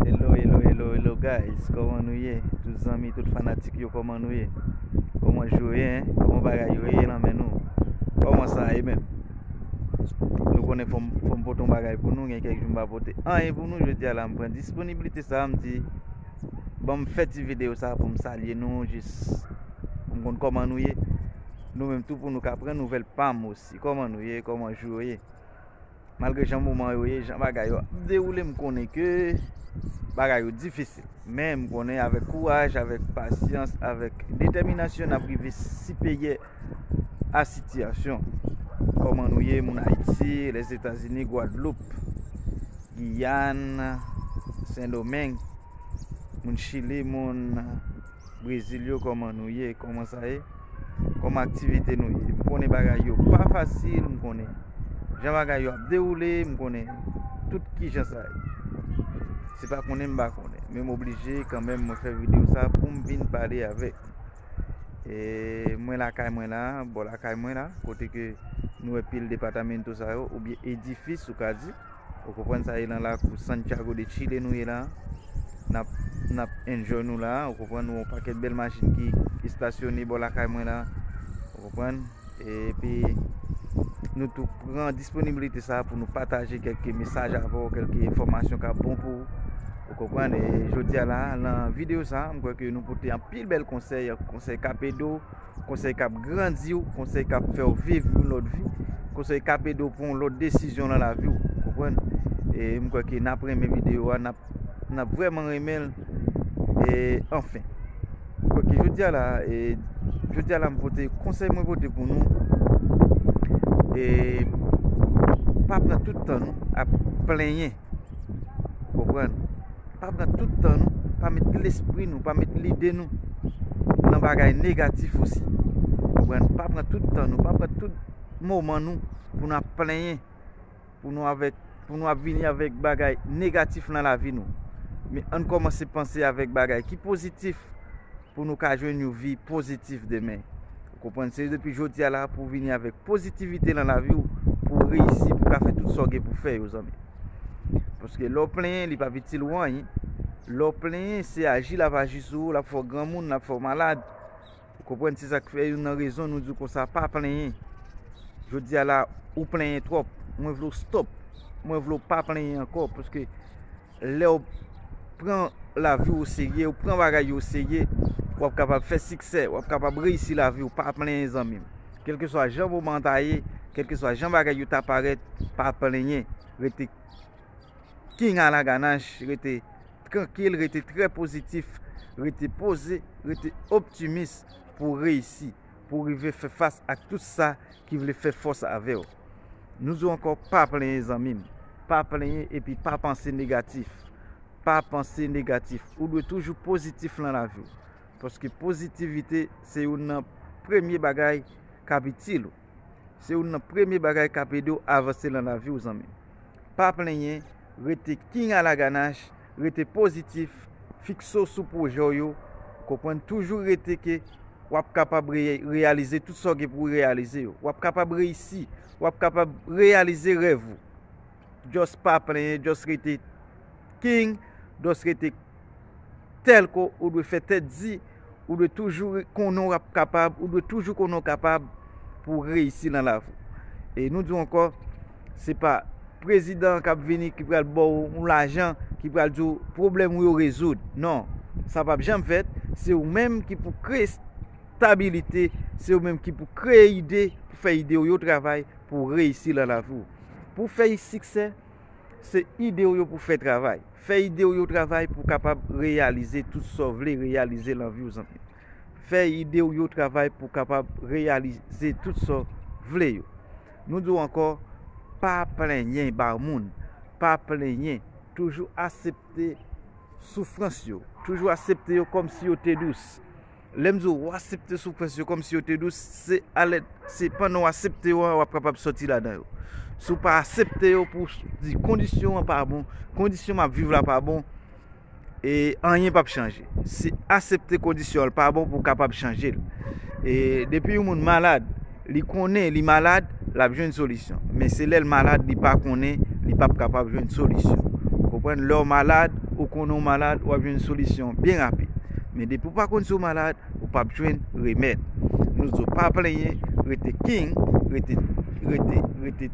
Hello, hello, hello, hello guys Koman nou ye? Tout zanmi, tout fanatik yo koman nou ye? Koman jou ye? Koman bagay yo ye nan men nou? Koman sa ye men? Nou konen fom poton bagay pou nou gen kek jou mba pote an e pou nou je di ala mpren disponibilite sa a mdi banm fè ti video sa a pou m salye nou jis m konn koman nou ye nou menm tou pou nou ka pran nouvel pam osi koman nou ye koman jou yo ye Malgre jan moman yo ye, jan bagay yo ap dewoule m konnen ke bagay yo difisil. Men m konnen avèk kouraj, avèk pasyans, avèk detèminasyon n ap rive sipeyè a sitiyasyon. Kòman nou ye moun Ayiti, Lèzetazini, Gwadloup, Giyàn, Sendomeng, moun Chili, moun Brezil yo kòman nou ye, kòman sa ye? Kòm aktivite nou ye. M konnen bagay yo pa fasil. M konnen jan bagay yo ap dewoule. M konnen tout ki jan sa ye. Se pa konnen m pa konnen. Men m oblije kanmenm mwen fè videyo sa pou m vin pale avèk. E mwen lakay mwen la. Bon lakay mwen la. Kote ke nou e pil depatamen to sa yo. Ou byen edifis ou ka di. Ou konprann sa e nan lakou Santiago de Chile nou ye la nap nap enjoy nou la ou konprann nou yon pakèt bèl machin ki estasyone bò lakay mwen la ou konprann epi nou tou pran disponibilite sa pou nou pataje kelke mesaj avò kelke enfomasyon ka bon pou ou konprann e jodi a la nan video sa m kwè ke nou pote an pil bèl konsèy konsèy kapedo konsèy k ap grandi w, konsèy k ap fè w viv yon lòt vi, konsèy k ap ede w pran yon lòt desizyon nan lavi w, ou konprann? E m kwè ke n ap renmen videyo a, n ap vrèman renmen l, e anfen. Kwè ke jodi a la, e jodi a la m pote, konsèy mwen pote pou nou, e pa pran tout tan nou ap plenyen. Konprann? Pa pran tout tan nou, pa met lespri nou, pa met lide nou nan bagay negatif osi. Konprann? Pa pran tout tan nou, pa pran tout moman nou pou nou ap plenyen, pou nou avèk, pou nou ap vini avèk bagay negatif nan lavi nou. Men ann kòmanse panse avèk bagay ki pozitif. pou nou ka jwenn yon vi pozitif demen. Ou konprann? Se depi jodi a la pou vini avèk pozitivite nan lavi ou pou ou reyisi, pou ou ka fè tout sa ou gen pou fè yo zanmi. Paske lè ou plenyen li pa p itil ou anyen. Lè ou plenyen se aji l ap aji sou ou, l ap fè ou granmoun, l ap fè ou malad. Ou konprann? Se sa k fè youn nan rezon nou di w konsa pa plenyen. Jodi a la ou plenyen twòp. Mwen vle w stop. Mwen vle w pa plenyen ankò paske. Lè w pran lavi w oserye, w pran bagay yo oserye, w ap kapab fè siksè, w ap kapab reyisi lavi w, pa plenyen zanmi m. Kèlkeswa jan moman an ta ye, kèlkeswa jan bagay yo ta parèt, pa plenyen, rete king a la ganach, rete trankil, rete trè pozitif, rete poze, rete optimis pou w reyisi. pou rive fè fas ak tout sa ki vle fè fòs avè w. Nou di w ankò pa plenyen zanmi m, pa plenyen epi pa panse negatif, pa panse negatif, ou dwe toujou pozitif nan lavi w, paske pozitivite se youn nan premye bagay k ap itil ou, se youn nan premye bagay k ap ede w avanse nan lavi w zanmi m. Pa plenyen, rete king a la ganache. Rete pozitif, fikse w sou pwojè w yo, konprann toujou rete ke w ap kapab reyalize tout sa w gen pou w reyalize yo. W ap kapab reyisi, w ap kapab reyalize rèv ou. Just pa plenyen, just rete king, just rete telko ou dwe fè tèt di. Ou dwe toujou konnen w ap kapab, ou dwe toujou konnen w kapab pou w reyisi nan lavi. E nou di w ankò, se pa prezidan an k ap vini ki pral ba w yon lajan, ki pral di w pwoblèm ou yo rezoud. Non, sa pap janm fèt, se ou menm ki pou kreye stabilite, se ou menm ki pou kreye ide, pou fè ide w yo travay pou w reyisi nan lavi w. Pou w fè siksè. Se ide w yo pou fè travay. Fè ide w yo travay pou w kapab reyalize tout sa w vle reyalize lan vi w zanmi. Fè ide w yo travay pou w kapab reyalize tout sa w vle yo. Nou di w ankò, pa plenyen ba moun, pa plenyen, toujou asepte soufrans yo, toujou asepte yo kòm si yo te dous. Lè m di w, w asepte soufrans yo kòmsi yo te dous, se alè, se pandan w asepte yo a w ap kapab sòti ladan yo. Si w pa asepte yo pou w di kondisyon an pa bon, kondisyon m ap viv la pa bon, e anyen pap chanje. Se asepte kondisyon an pa bon pou w kapab chanje l. E depi yon moun malad. Li konnen li malad, lap jwenn solisyon. Men se lèl malad li pa konnen, li pap kapab jwenn solisyon. Ou konprann? Lèw malad, ou konnen ou malad, wap jwenn solisyon byen rapid. Men depi ou pa konn si w malad, ou pap jwenn remèd. Nou di w pa plenyen, rete king, rete rete rete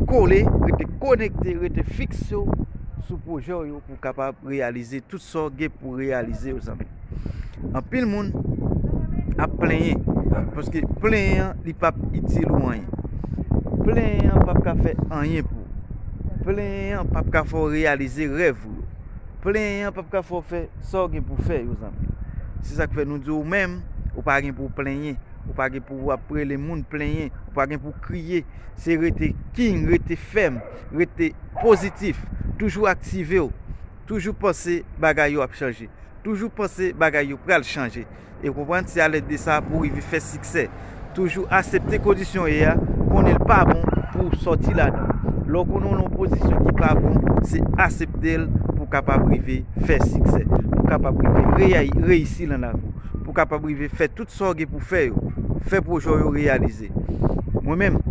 kole, rete konekte, rete fikse w sou pwojè w yo pou w kapab reyalize tout sa w gen pou reyalize yo zanmi. Anpil moun ap plenyen, paske plenyen an li pap itil ou anyen. Plenyen an pap ka fè anyen pou ou. Plenyen an pap ka fè ou reyalize rèv ou yo. Plenyen an pap ka fè ou fè sa ou gen pou fè yo zanmi. Se sa k fè nou di ou menm, ou pa gen pou w plenyen, ou pa gen pou w ap rele moun plenyen, ou pa gen pou w kriye. Se rete king, rete fèm, rete pozitif, toujou aktive ou. Toujou panse bagay yo ap chanje. Toujou panse bagay yo pral chanje. E konprann se alèd de sa pou rive fè siksè. Toujou asepte kondisyon w ye a, konnen l pa bon pou w sòti ladan l. Lè w konnen w lan yon pozisyon ki pa bon, se asepte l pou w kapab rive fè siksè. Pou w kapab rive reyisi lan lavi w. Pou w kapab rive fè tout sa w gen pou w fè yo. Fè pwojè w yo reyalize. Mwen menm,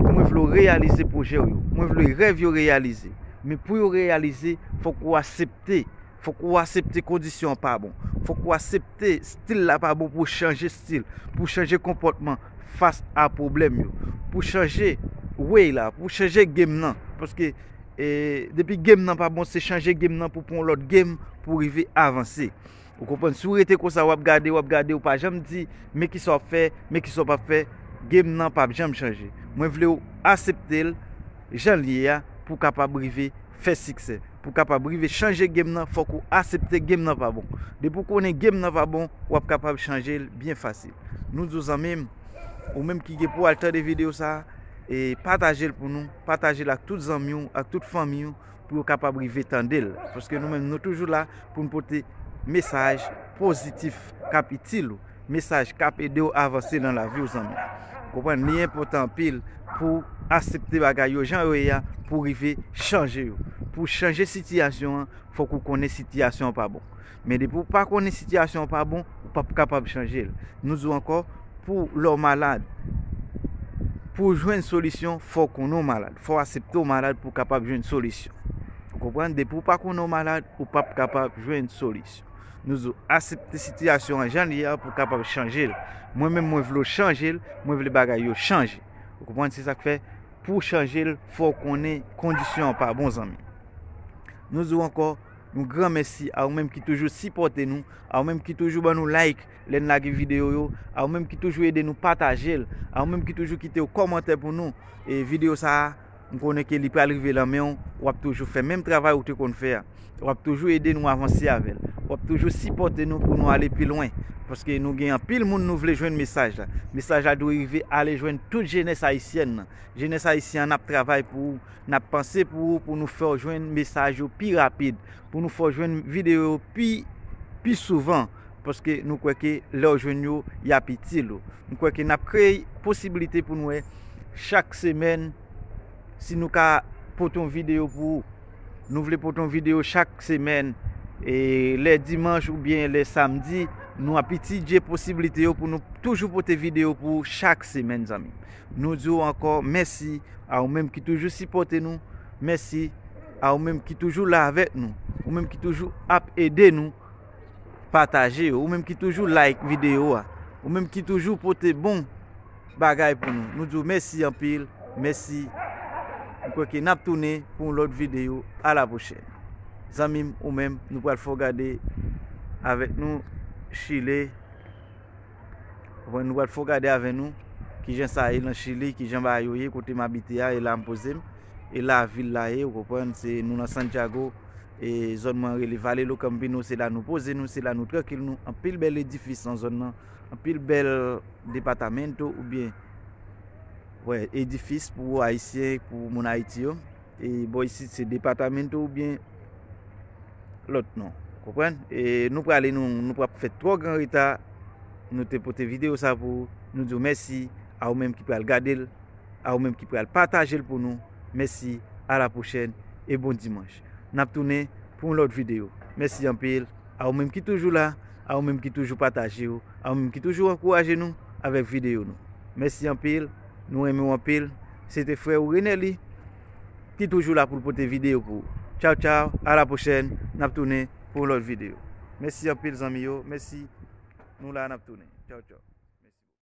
mwen vle w reyalize pwojè w yo. Mwen vle rèv yo reyalize. Men pou yo reyalize, fòk ou asepte. Fòk ou asepte kondisyon an pa bon. Fòk ou asepte stil la pa bon pou w chanje stil. Pou w chanje konpòtman fas a pwoblèm yo. Pou w chanje way la. Pou w chanje game nan. Paske depi game nan pa bon se chanje game nan pou w pran yon lòt game pou w rive avanse. Ou konprann si w rete konsa wap gade wap gade ou pa janm di men kisa wap fè men kisa wap ap fè game nan pap janm chanje mwen vle w asepte l jan l ye a pou w kapab rive fè siksè pou w kapab rive chanje game nan fòk ou asepte game nan pa bon depi w konnen game nan pa bon wap kapab chanje l byen fasil nou di w zanmi m ou menm ki gen pou w al tande video sa e pataje l pou nou pataje l ak tout zanmi w ak tout fanmi w. pou yo kapab rive tande l. Paske nou menm nou toujou la pou nou pote mesaj pozitif k ap itil ou. Mesaj k ap ede ou avanse nan lavi ou zanmi. Ou konprann? Li enpòtan anpil pou asepte bagay yo jan yo ye a pou rive chanje yo. Pou chanje sitiyasyon an, fòk ou konnen sitiyasyon an pa bon. Men depi ou pa konnen sitiyasyon an pa bon, ou pap kapab chanje l. Nou di w ankò, pou lè w malad, pou w jwenn solisyon, fò w konnen w malad. Fò w asepte w malad pou w kapab jwenn solisyon. Ou konprann? Depi ou pa konnen w malad, ou pap kapab jwenn solisyon. Nou di w, asepte sitiyasyon an jan li ye a pou w kapab chanje l. Mwen menm mwen vle w chanje l, mwen vle bagay yo chanje. Ou konprann? Se sa k fè, pou w chanje l, fò w konnen kondisyon an pa bon zanmi. Nou di w ankò. Yon gran mèsi a ou menm ki toujou sipòte nou, a ou menm ki toujou ban nou like lè n lage videyo yo, a ou menm ki toujou ede nou pataje l, a ou menm ki toujou kite yon kòmantè pou nou. E videyo sa a, m konnen ke li pral rive lan men w, w ap toujou fè menm travay ou te konn fè a. W ap toujou ede nou avanse avè l. W ap toujou sipòte nou pou nou ale pi lwen. Paske nou gen anpil moun nou vle jwenn mesaj la. Mesaj la dwe rive ale jwenn tout jenès ayisyèn nan. Jenès ayisyen an ap travay pou ou. N ap panse pou ou pou nou fè w jwenn mesaj yo pi rapid, pou nou fè w jwenn videyo yo pi souvan paske nou kwè ke lè w jwenn yo, y ap itil ou. M kwè ke n ap kreye posibilite pou nou wè chak semèn si nou ka pote yon videyo pou ou. Nou vle pote yon videyo chak semèn e lè dimanch oubyen lè samdi nou ap itidye posibilite yo pou nou toujou pote videyo pou ou chak semèn zanmi m. Nou di w ankò mèsi a ou menm ki toujou sipòte nou, mèsi a ou menm ki toujou la avèk nou, ou menm ki toujou ap ede nou pataje yo, ou menm ki toujou like videyo a, ou menm ki toujou pote bon bagay pou nou. Nou di w mèsi anpil, mèsi. Mwen kwè ke n ap tounen pou yon lòt videyo. A la pwochèn. Zanmi m, ou menm, nou pral fè w gade avèk nou chile. Konprann nou pral fò gade avè nou kijan sa ye nan chili, kijan bagay yo ye kote m abite a e la m poze m e la vil la ye ou konprann se nou nan Santiago e zòn mwen rele Vale lo Campino se la nou poze nou se la nou trankil nou anpil bèl edifis nan zòn nan anpil bèl depatamento ou byen wè edifis pou ayisyen pou moun ayiti yo. E bò isit se departamento ou byen lòt non. Konprann? E nou prale nou nou pap fè twò gran reta. Nou te pote video sa pou nou di w mèsi a ou menm ki pral gade l, a ou menm ki pral pataje l pou nou. Mèsi, a la pwochèn e bon dimanch. N ap tounen pou yon lòt video. Mèsi anpil a ou menm ki toujou la, a ou menm ki toujou pataje yo, a ou menm ki toujou ankouraje nou avèk video nou. Mèsi anpil, nou renmen w anpil. Se te frè ou Renely ki toujou la poul pote video pou ou. Tchaw tchaw a la pwochèn nap tounen pou yon lòt video. Mèsi anpil zanmi yo mèsi nou la nap tounen tchaw tchaw.